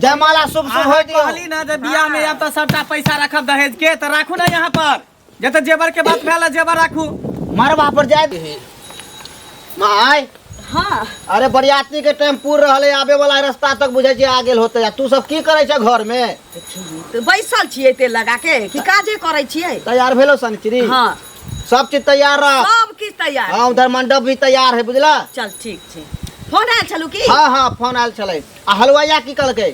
जयमाला शुभ शुभ हो दियो कहली ना जे बियाह में आब तऽ सबटा पैसा रखब दहेज के तऽ राखू ना यहाँ पर जे तऽ जेवर के बात भेल जेवर राखू मरबा पर जाय दही माय हाँ अरे बरियाती के टाइम पूर रहल है आबे वाला रास्ता तक बुझे छी आ गेल होते आ तू सब की करे छ घर में तऽ बैसल छियै तेल लगा के कि काजे करै छियै तैयार भेलो सनिचरी हाँ सब चीज तैयार रह सब किछु तैयार हाँ उधर मंडप भी तैयार है बुझला चल ठीक छै फोन आयल छलू की हाँ हाँ फोन आयल छलै आ हलवाइया की कहलकै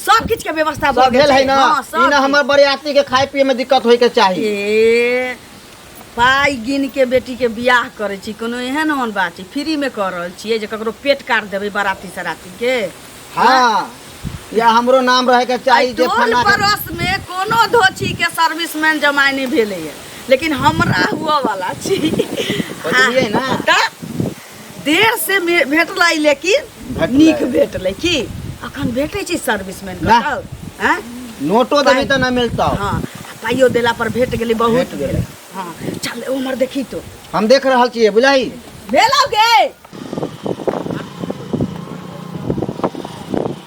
सब किछ के व्यवस्था भऽ सब गेल भेल है ना हाँ, सब ई ना किछु। हमर बरियाती के खाय पिए में दिक्कत होय के चाही ए पाइ गिन के बेटी के बियाह करै छी कोनो एहन ओहन बात छै फ्री में कऽ रहल छियै जे ककरो पेट काट देबै बाराती सराती के हाँ या हमरो नाम रहे के चाही एहि जे टोल फलाना के- पड़ोस में कोनो धोछी के सर्विसमैन जमाय नहि भेलैए लेकिन हमरा हुअ वाला छी बुझलियै ना? तऽ देर से मे- भेटलै लेकिन भेटलै। नीक भेटलै की अखन भेटै छै सर्विसमैन के वाह। तब हैं? नोटो देबी तऽ नहि मिलतौ हाँ आ पाइयो देला पर भेट गेलै बहुत भेट गेलै। भेलै हाँ चल उमर देखी तो हम देख रहल छियै बुझलही भेलौ गे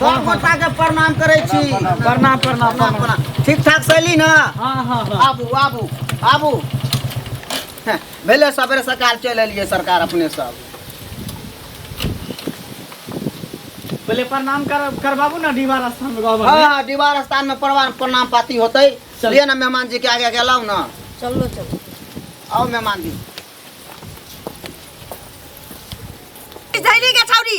सब गोटा के प्रणाम करै छी प्रणाम प्रणाम प्रणाम प्रणाम ठीक ठाक सैली ना हाँ हाँ हाँ आबू आबू आबू हँ, भेलै सबेरे सकाल चलि एलियै सरकार अपने सब पहले प्रणाम कर करबाबू ना दीवार स्थान में गाँव हाँ में हाँ दीवार स्थान में प्रणाम प्रणाम पाती होतै चल। लिए ना मेहमान जी के आगे गेलहुँ ना चलो चलो आओ मेहमान जी झैली के छौरी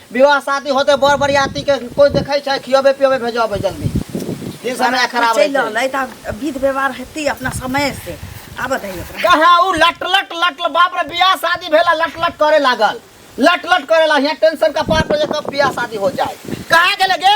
विवाह शादी होते बड़ बरियाती के कोई देखै छै खियबे पियबे भेजबै जल्दी दिन समय बराती खराब चलि रहै रहल छै अइ तऽ आब विध व्यवहार हेतै अपना समय से आबऽ दही ओकरा कहाँ उ लट लट लट लट- बाप रे बियाह शादी भेला लट लट करे लागल लट लट करे ला यहाँ टेंशन का पार पर जे कब बियाह शादी हो जाए कहाँ गेले गे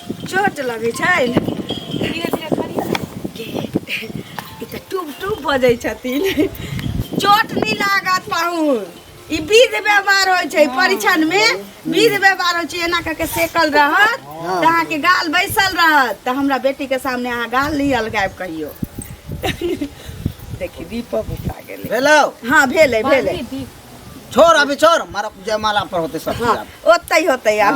चोट लगै छै धीरे धीरे करियौ ने के ई तऽ टुब टुब बजै छथिन चोट नहि लागत पाहुन ई विध व्यवहार होइ छै परीक्षण मे विध व्यवहार होइ छै एना कऽ के सेकल रहत तऽ अहाँके गाल बैसल रहत तऽ हमरा बेटी के सामने अहाँ गाल नहि अलगायब कहियो देखी दीपक उठा गेलै हेलो हाँ भेलै भेलै छोड़ अभी छोड़ मारा जयमाला पर होते सब हाँ चीज आब। ओतै होतै आब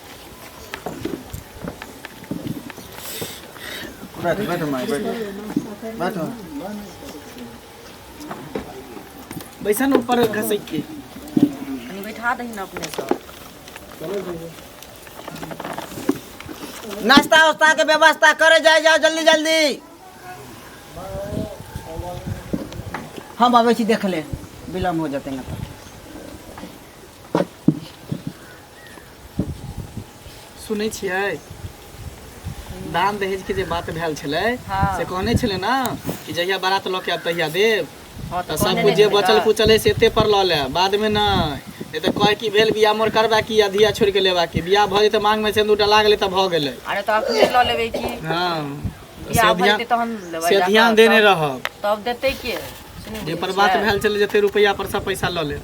बैठो बैठो माई बैठो बैठो बैसा ना ऊपर घसक के कनी बैठा दही ना अपने सब नाश्ता उस्ता के व्यवस्था करे जाए जाओ जल्दी जल्दी हम आबै छी देख ले विलम्ब हो जेतै ना तऽ सुनै छियै दान दहेज के जे बात भेल छलै हाँ। से कहने छलै ना कि जहिया बारात लऽ के आब तहिया देब हाँ, तऽ तऽ सब कहने कुछ जे रहियै बचल ना। कुचल है से एते पर लऽ ले बाद में नै ए तऽ कहे की भेल बियाह मोर करबा की अधिया छोड़ के लेबा की बियाह भऽ जेतै मांग में सिंदूर डला गेलै तऽ भऽ गेलै अरे तऽ अखने लऽ लेबै कि हाँ बियाह से भऽ ध्यान जेतै तहन लेबै से जाकऽ, ध्यान देने तब- रहब तब देतै के सुनू जे पर बुझै बात छियै? भेल छलै जते रुपैआ पर सब पैसा लऽ लेब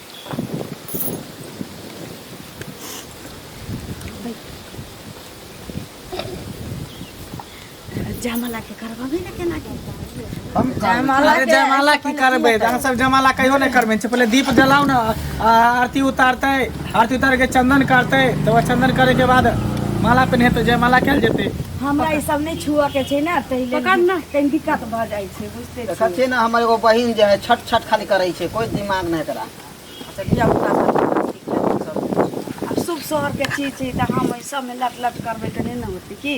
जयमाला के करबे ने केना की हम जयमाला अरे के- जयमाला की करबै अहाँ सब जयमाला कहियो नहि करबै छै पहिले दीप जलाउ ने आ आरती उतारतै आरती उतार के चंदन करतै तब बाद चंदन करे के बाद माला पहिनेतै जयमाला कयल जेतै हमरा ई सब नहि छुअ के छै ने ताहि लेल कनि दिक्कत भऽ जाइ छै देखै छियै ने हमर एगो बहिन जे है छट छट खाली करै छै कोइ दिमाग नहि एकरा अच्छा धिया पुता सब ठीक ठाक सब आब शुभ शहर के चीज छै तऽ हम एहि सबमे लट लट करबै तऽ नहि ने होतै की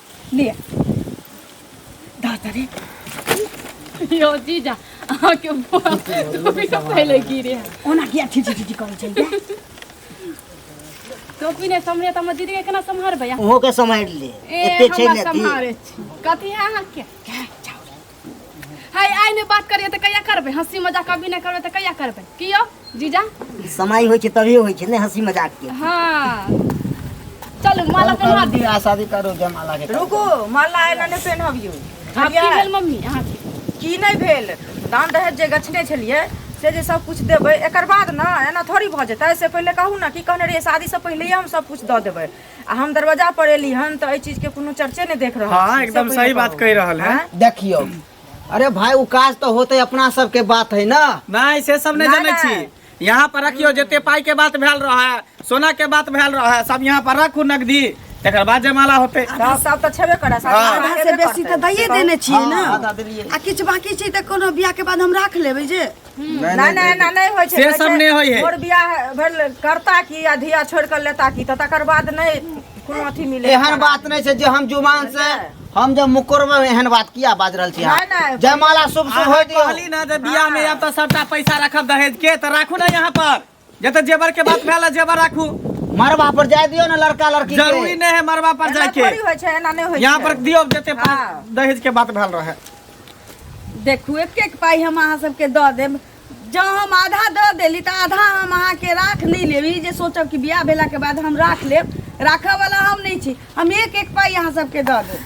लिया दादरी यो जीजा अहाँ के टोपी सब पहले गिरे ओना किया छी छी छी करै छै टोपी ने समरे त हम दीदी के केना सम्हारबै अहाँ? ओहो के सम्हारि ले ए एते छै हम ने सम्हारे छी कथी है अहाँ के है आइ नहि बात करिए तऽ कहिया करबै हँसी मजाक कभी नहि करबै तऽ कहिया करबै की यौ जीजा समय होइ छै तभिए होइ छै ने हँसी मजाक के हाँ चलू माला हम पहना कर दी बियाह शादी करो जयमाला के रुको माला आइला नहि पेन्हबियो आब की भेल मम्मी अहाँके की नहि भेल दान दहेज जे गछने छलियै से जे सब कुछ देबै एकर बाद ने एना थोड़ी भऽ जेतै से पहिले कहू ने की कहने रहियै शादी से पहिले हम सब कुछ दऽ देबै आ हम दरवाजा पर एली हन तऽ एहि चीज के कोनो चर्चे नहि देख रहल हाँ छी। एकदम से सही पहिले बात कहू। कह रहल है आँय? देखियो अरे भाई उ काज तो होते अपना सब के बात है ना नहीं से सब नहीं नहीं, जाने नहीं। छी यहाँ पर रखियो जते पाई के बात भेल रहा है सोना के बात भेल रहा है सब यहाँ पर रखू नगदी तकर बाद जमाला होते आ, सब तऽ छेबे करै सब हाँ। तऽ आधा से हेबे बेसी करतै। तऽ दैये देने छियै ने आधा देलियै। आ किछु बाकी छै तऽ कोनो बियाह के बाद हम राख लेबै जे नहि नहि एना नहि होइ छै से सब नहि होइ है मोर बियाह भेल करता की आ धिया छोड़ के लेता की तऽ तकर बाद नहि कोनो अथी मिले एहन बात नहि छै जे हम जुबान से हम जब मुकरबे में एहन बात किया बाज रहल छी अहाँ? नहीं, नहीं। जयमाला शुभ शुभ हो अहाँ दियो कहली ना जे बियाह में आब तऽ सबटा पैसा रखब दहेज के तऽ राखू ना यहाँ पर जे तऽ जेवर के बात भेल है, जेवर राखू मरबा पर जाय दियो ना लड़का लड़की के। जरूरी नहीं है मरबा पर एना जाके थोड़ी होइ छै एना नहि होइ यहाँ पर छै दियो जते पा- हाँ। दहेज के बात भेल रहे देखू एक एक पाइ हम अहाँ सबके दऽ देब जँ हम आधा दऽ देली तऽ आधा हम अहाँके राख नहि लेब ई जे सोचब कि बियाह भेलाके बाद हम राख लेब राखऽवला हम नहि छी हम एक एक पाइ अहाँ सबके दऽ देब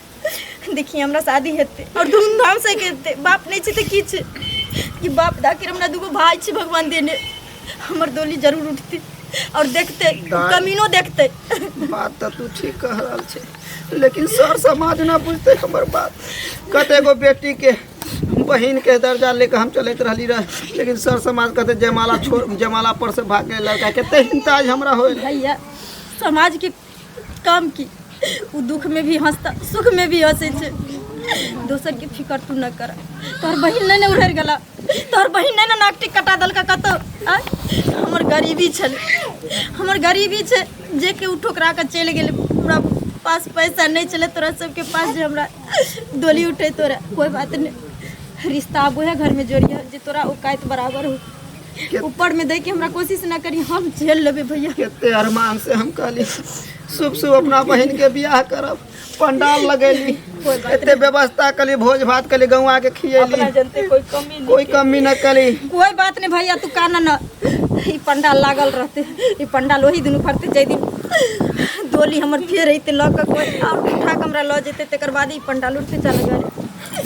देखी हमरा शादी हेतै और धूमधाम से हेतै बाप नहीं छै तऽ की छै कि बाप दा के हमरा दूगो भाई छै भगवान देने हमर डोली जरूर उठतै और देखतै उ दाई। कमीनो देखतै बात तऽ तू ठीक कह रहल छै लेकिन सर समाज ना बुझते हमर बात कते गो बेटी के बहिन के दर्जा लेके हम चलैत रहली रह लेकिन सर समाज कहते जयमाला छोड़ जयमाला पर से भाग गए लड़का कते हिंताज हमरा होए भैया समाज के काम की ओ दुखमे भी हँसता सुखमे भी हँसै छै दोसरके फिकर तू नहि कर तोहर बहिन नहि ने उड़ि गेला तोहर बहिन नहि ने नाकटी कटा देलका कतौ आँय? हमर गरीबी छल हमर गरीबी छै जे कि ओ ठोकरा कऽ चलि गेलै हमरा पास पैसा नहि छलै तोरा सबके पास जे हमरा डोली उठै तोरा कोइ बात नहि रिश्ता आब उएह घरमे जोड़िया जे तोरा औकात बराबर हो ऊपर में दे के हमरा कोशिश ना करी हम झेल लेबे भैया कते अरमान से हम कहली शुभ शुभ अपना बहन के बियाह करब पंडाल लगेली कते व्यवस्था कली भोज भात कली गौवा के खियेली अपना जनते कोई कमी नहीं कोई कमी न कली कोई बात नहीं भैया तू काना न ई पंडाल लागल रहते ई पंडाल वही दिन फरते जै दिन डोली हमर फेर अइते लऽ कऽ कोई और उठा के हमरा लऽ जेते तकर बाद ई पंडाल उठते चल गए